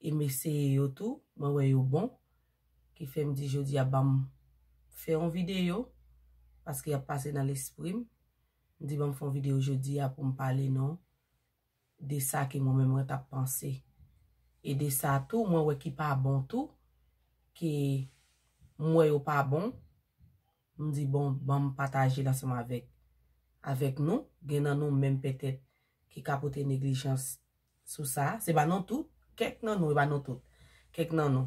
E m eseye yo tou, mwen wè yo bon. Ki fè m di jodi a banm fè yon videyo, paske y ap pase nan lespri m. M di banm fè yon videyo jodi a pou m pale nou de sa ke mwen menm mwen t ap panse. E de sa tou mwen wè ki pa bon tou, ke m wè yo pa bon. M di bon banm pataje l ansanm avèk avèk nou, gen nan nou menm pètèt ki ka pote neglijans sou sa, se pa nou tout, kèk nan nou, e pa nou tout, kèk nan nou.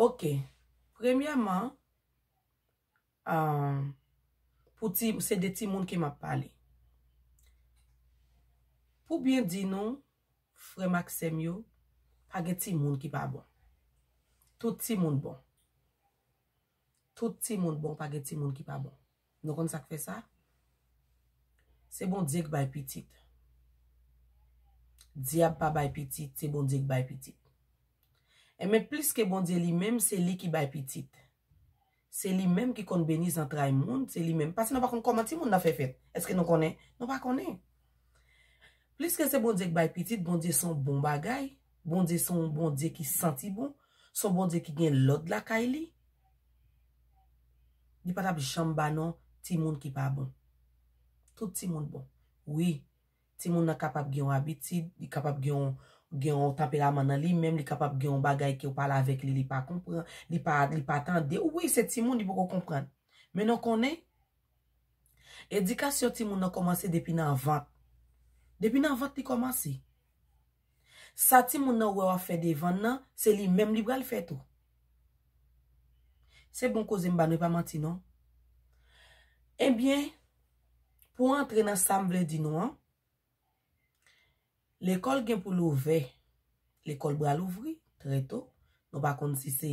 Ok, premyèman, pou ti, se de timoun ke m ap pale. Pou byen di nou, frè m ak sè m yo, pa gen timoun ki pa bon. Tout timoun bon. Tout timoun bon pa gen timoun ki pa bon. Nou konn sak fè sa? Se Bondye k bay pitit. Dyab pa bay pitit, se Bondye k bay pitit. Enben plis ke Bondye li menm se li ki bay pitit. Se li menm ki konn beni zantray moun, se li menm. Pase nou pa konn kòman timoun nan fè fèt. Eske nou konnen? Nou pa konnen. Pliske se Bondye k bay pitit, Bondye son bon bagay, Bondye son Bondye ki santi bon, son Bondye ki gen lòd lakay li, li pa tap janm ba non timoun ki pa bon. Tout timoun bon. Wi, timoun nan kapab gen yon abitid, li kapab gen yon gen yon tanperaman nan li menm, li kapab gen yon bagay ke ou pale avèk li, li pa konpran, li pa li pa tande, wi se timoun li poko konprann. Men nou konnen, Edikasyon timoun nan kòmanse depi nan vant. Depi nan vant li kòmanse. Sa timoun nan wè w ap fè devan l nan, se li menm li pral fè tou. Se bon koze m ba nou, e pa manti non. Ebyen, pou antre nan sa m vle di nou an, Lekòl gen pou l ouvè. Lekòl bral ouvri trè to. Nou pa konn si se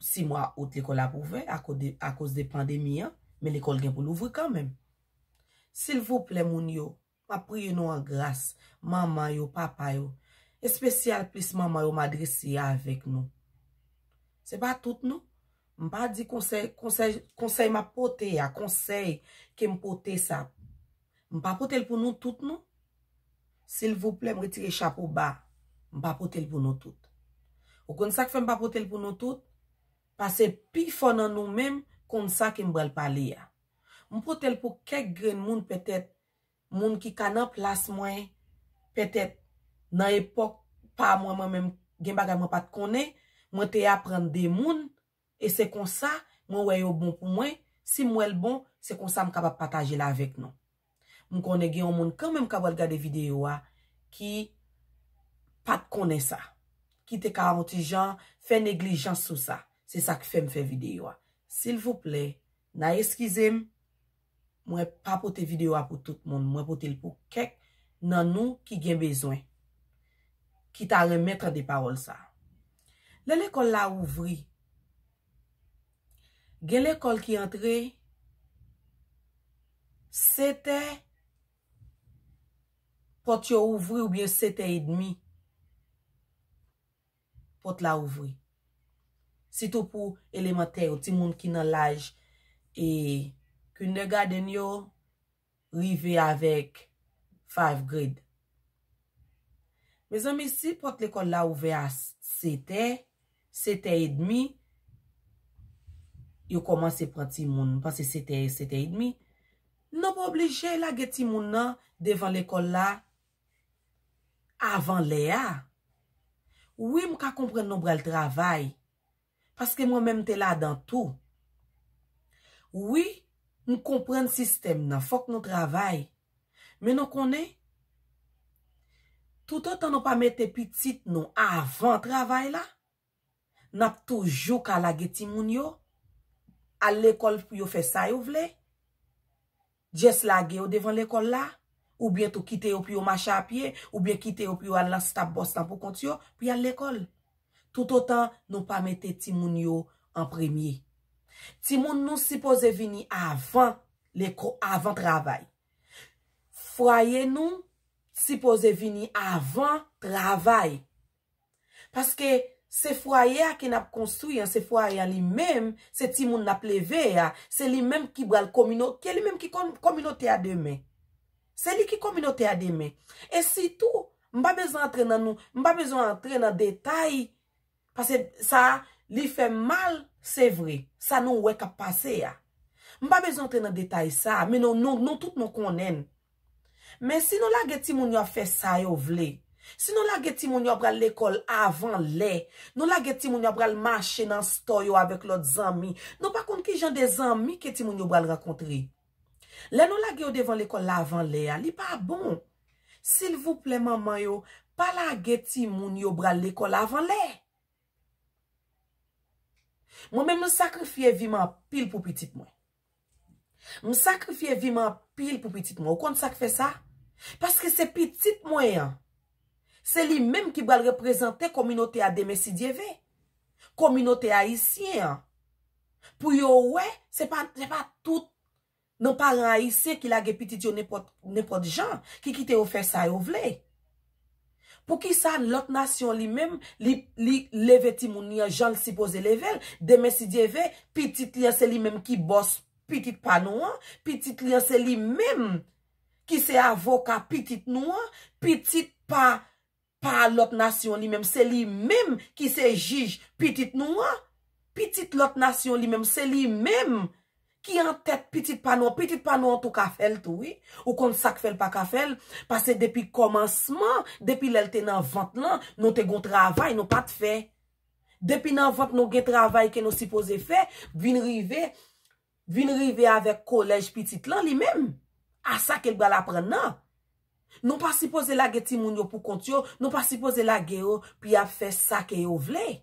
si mwa out lekòl ap ouvè akoz de pandemi an, men lekòl gen pou l ouvri kanmenm. Silvouplè moun yo, m ap priye nou an gras, manman yo, papa yo, espesyal plis manman yo m adrese avèk nou. Se pa tout non. M pa di konsèy, konsèy, konsèy m ap pote a, konsèy ke m pote sa. M pa pote l pou nou tout non. Silvouplè m retire chapo ba, m pa pote l pou nou tout. Ou konn sa k fè m pa pote l pou nou tout? Pase pifò nan nou menm konn sa ke m pral pale a. M pote l pou kèk grenn moun pètèt, moun ki ka nan plas mwen, pètèt nan epòk pa mwen mwen menm gen bagay mwen pa t konnen, mwen te aprann de moun E se konsa, mwen wè yo bon pou mwen, si m wè l bon, se konsa m kapab pataje l avèk nou. M konnen gen yon moun kanmenm k ap pral gade videyo a ki pa t konnen sa, ki te ka yon ti jan fè neglijans sou sa. Se sa k fè m fè videyo a. Silvouplè, Na eskize m, mwen pa pote video a pou tout moun, mwen pote l pou kèk nan nou ki gen bezwen, ki ta renmen tande pawòl sa. Lè lekòl la ouvri, gen lekòl ki antre 7 è, pòt yo ouvri oubyen 7 è edmi. Pòt la ouvri. Sitou pou elemantè yo, timoun ki nan laj e kindergarten yo rive avèk five grade. Mezanmi si pòt lekòl la ouvè a setè, setè edmi, yo kòmanse pran timoun, panse setè, setè edmi, nou pa oblije lage timoun nan devan lekòl la avan lè a wi m ka konprann nou pral travay paske mwen menm m te ladan tou wi m konprann sistèm nan fòk nou travay men nou konnen toutotan nou pa mete pitit nou avan travay la. Nap toujou ka lage timoun yo Al lekòl pou yo fè sa yo vle Just lage yo devan lekòl la Oubyen tou kite yo pou yo mache a pye Oubyen kite yo pou yo al nan stop bòs lan pou kont yo Pou yal lekòl Toutotan nou pa mete timoun yo an premye Timoun nou sipoze vini avan leko avan travay Fwaye nou sipoze vini avan travay Paske se fwaye a ke n ap konstwi an, se fwaye a li menm, se timoun n ap leve a, se li menm ki bral komino, ke li menm ki kon kominote a demen. Se li ki kominote a demen. E sitou, m pa bezwen antre nan nou, m pa bezwen antre nan detay, pase sa a, li fè m mal, se vre, sa nou wè k ap pase a. M pa bezwen antre nan detay sa a, men nou, nou tout nou konnen. Men si nou lage timoun yo ap fè sa yo vle, si nou lage timoun yo ap pral lekòl avan lè, nou lage timoun yo ap pral mache nan stò yo avèk lòt zanmi, nou pa konn ki jan de zanmi ke timoun yo pral rankontre. Lè nou lage yo devan lekòl la avan lè a, li pa bon. Silvouplè manman yo, pa lage timoun yo pral lekòl avan lè. Mwen menm m sakrifye vi m anpil pou pitit mwen. M sakrifye vi m anpil pou pitit mwen. Ou konn sa k fè sa? Paske se pitit mwen an. Se li menm ki pral reprezante kominote a demen si Dye ve. Kominote ayisyen an. Pou yo wè, se pa tout nan paran ayisyen ki lage pitit yo nenpòt jan, ki kite yo fè sa yo vle. Poukisa lòt nasyon li menm li li leve timoun li an jan l sipoze leve l, demen si Dye ve, pitit li an se li menm ki bòs pitit pa nou an, pitit li an se li menm ki se avoka pitit nou an, pitit pa pa lòt nasyon li menm se li menm ki se jij pitit nou an, pitit lòt nasyon li menm se li menm ki an tèt pitit pa nou an, pitit pa nou an tou ka fè l tou wi, ou konn sa k fè l pa ka fè l, pase depi kòmansman, depi lè l te nan vant lan, nou te gon travay nou pa t fè, depi nan vant nou gen travay ke nou sipoze fè, vin rive, vin rive avèk kolèj pitit lan li menm, a sa ke l pral aprann nan. Nou pa sipoze lage timoun yo pou kont yo, nou pa sipoze lage yo pou y ap fè sa ke yo vle.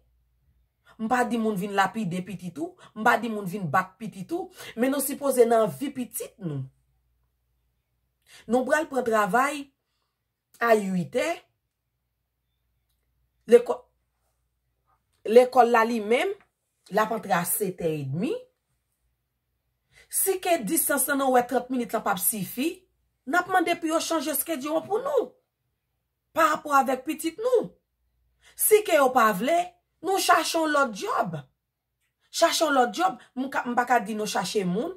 M pa di moun vin lapide pitit ou, m pa di moun vin bat pitit ou, men nou sipoze nan vi pitit nou. Nou pral pran travay a 8 è, lekòl la li menm, L ap antre a setè edmi. Si ke distans lan nou wè 30 minit lan p ap sifi, n ap mande pou yo chanje skedyon an pou nou. Pa rapò avèk pitit nou. Si ke yo pa vle, nou chache yon lòt dyòb. Chache yon lòt dyòb, m ka, m pa ka di nou chache moun.